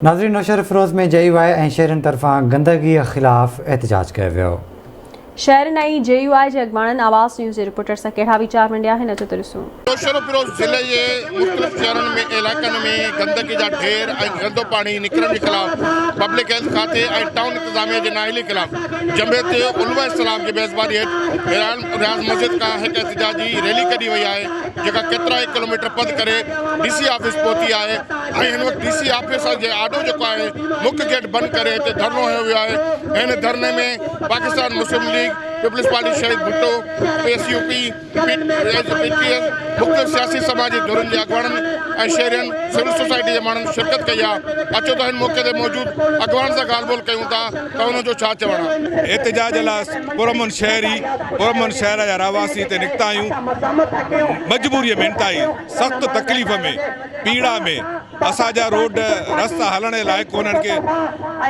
ناظرين Naushahro Feroze ۾ J U I ۽ شهرين طرفان گندگي خلاف احتجاج ڪيو ويو. شهرين ۽ جي يو آء جي اڳواڻن آواز نيوز جي رپورٽر سان ڪهڙا ويچار ونڊيا آهن اچو ته ڏسون. نوشهروفيروز ضلعي جي مختلف شهرن ۾ علائقن ۾ گندگي جا ڍير ۽ گندو پاڻي نڪرڻ جي خلاف پبلڪ هيلٿ کاتي ۽ ٽائون انتظاميه جي نااهلي خلاف جمعيت علماء اسلام جي ميزباني هيٺ رياض مسجد کان هڪ احتجاجي ريلي ڪڍي وئي آهي جيڪا ڪيترائي ڪلوميٽر پڌ ڪري ڊي سي آفيس پهتي آهي ۽ هن وقت ڊي سي آفيس جي آڏو جيڪو آهي مک گيٽ بند ڪري هتي ڌرڻو هنيو ويو آهي ۽ هن ڌرڻي ۾ Pakistan Muslim league peoples party Shaheed Bhutto P S U P مختلف سياسي سماج جي ڌرين جي اڳواڻن ۽ شهرين سول سوسائٽي جي ماڻهن شرڪت ڪئي آهي اچو ته هن موقعي تي موجود اڳواڻن سان ڳالهه ٻولهه ڪيون ٿا ته ان جو ڇا چوڻ آهي؟ احتجاج لاء پرامن شهري، پرامن شهر جا رهواسي هتي نڪتا آهيون. مجبوريء ۾ انتهائي سخت تڪليف ۾، پيڙا ۾، اسان جا روڊ رستا هلڻ جي لائق ڪونهن ڪي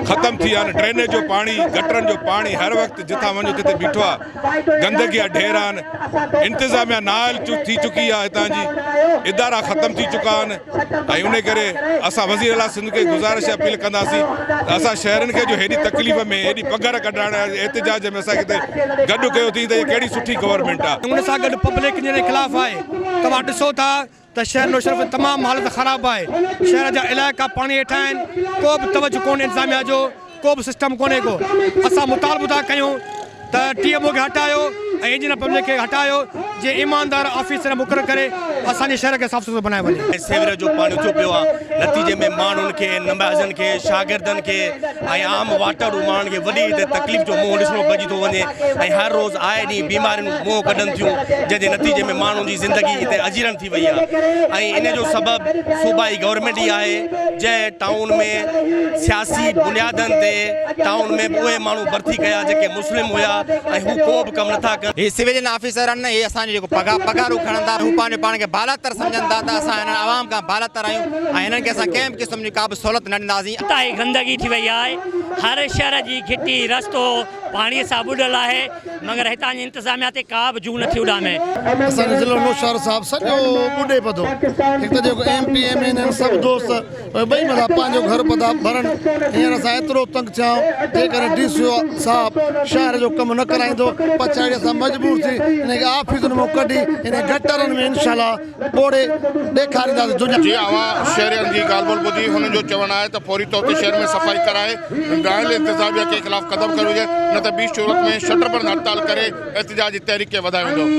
ختم ٿي ويا آهن، ڊرينيج جو پاڻي، گٽرن جو پاڻي هر وقت جتان وڃو تتي بيٺو آهي. گندگي جا ڍير آهن انتظاميا نااهل ٿي چڪي آهي هتان جي ادارا ختم ٿي چڪا آهن ۽ انهي ڪري اسان وزير اعليٰ سنڌ کي گذارش اپيل ڪنداسين ته اسان شهرين کي جو هيڏي تڪليف ۾ هيڏي پگهر ڪڍرائڻ احتجاج ۾ اسان کي هتي گڏ ڪيو اٿئين ته هي ڪهڙي سٺي گورنمينٽ آهي. ان سان گڏ پبلڪ جنهن جي خلاف آهي توهان ڏسو ٿا ته شهر نوشهرو ۾ تمام حالت خراب آهي شهر جا علائقا پاڻي هيٺان آهن ڪو به توجه ڪونهي انتظاميا جو ڪو به سسٽم ڪونهي ڪو اسان مطالبو ٿا ڪيون ته ٽي ايم او کي هٽايو ۽ انجنيئر پبلڪ کي هٽايو جي ايماندار آفيسر مقرر ڪري اسان جي شهر کي صاف سٿرو بنايو وڃي. سيوريج جو پاڻي اچيو پيو آهي نتيجي ۾ ماڻهن کي نمائندن کي شاگردن کي ۽ عام واٽر روم ماڻهن کي وڏي ته تڪليف جو منهن ڏسڻو پئجي ٿو وڃي ۽ هر روز آئي ڏينهن بيماريون منهن ڪڍن ٿيون جنهن جي نتيجي ۾ ماڻهن جي زندگي هتي اجيرڻ ٿي وئي آهي ۽ ان جو سبب صوبائي گورنمينٽ ئي آهي جنهن ٽائون ۾ سياسي بنيادن تي ٽائون ۾ به اهي ماڻهو ڀرتي ڪيا جيڪي مسلم هيا ۽ هو ڪو به ڪم نٿا ڪن. هي سويلين آفيسر آهن اهي اسان جو جيڪو پگهار پگهارون کڻن ٿا هو پنهنجو پاڻ کي بالاتر سمجهن ٿا ته اسان هنن عوام کان بالاتر آهيون ۽ هنن کي اسان ڪنهن به قسم جي ڪا به سهولت نه ڏينداسين. اتان ئي گندگي ٿي وئي آهي، هر شهر جي گهٽي، رستو پاڻي سان ٻڏل آهي، مگر هتان جي انتظاميا تي ڪا به جوء نٿي اڏامي. اسان جو ضلعو نوشهرو صاحب سڄو ٻڏي پڌو، هڪ ته جيڪو M P M N N سڀ دوست پوء ٻئي مٿان پنهنجو گهر پتا ڀرن، هينئر اسان ايترو تنگ ٿيا آهيون، جيڪڏهن ڊي سي او صاحب شهر جو ڪم نه ڪرائيندو پڇاڙي اسان مجبور ٿي انهن کي آفيسن مان ڪڍي انهن گٽرن ۾ انشاء الله ٻوڙي ڏيکارينداسين جو. جي اوهان شهرين جي ڳالهه ٻولهه ٻڌي هنن جو چوڻ آهي ته فوري طور تي شهر ۾ صفائي ڪرائي ڊرائيل انتظاميا کي خلاف قدم کنيو وڃي نه ته ٻي صورت ۾ شٽر بند هڙتال ڪري احتجاج جي تحريڪ کي وڌايو ويندو.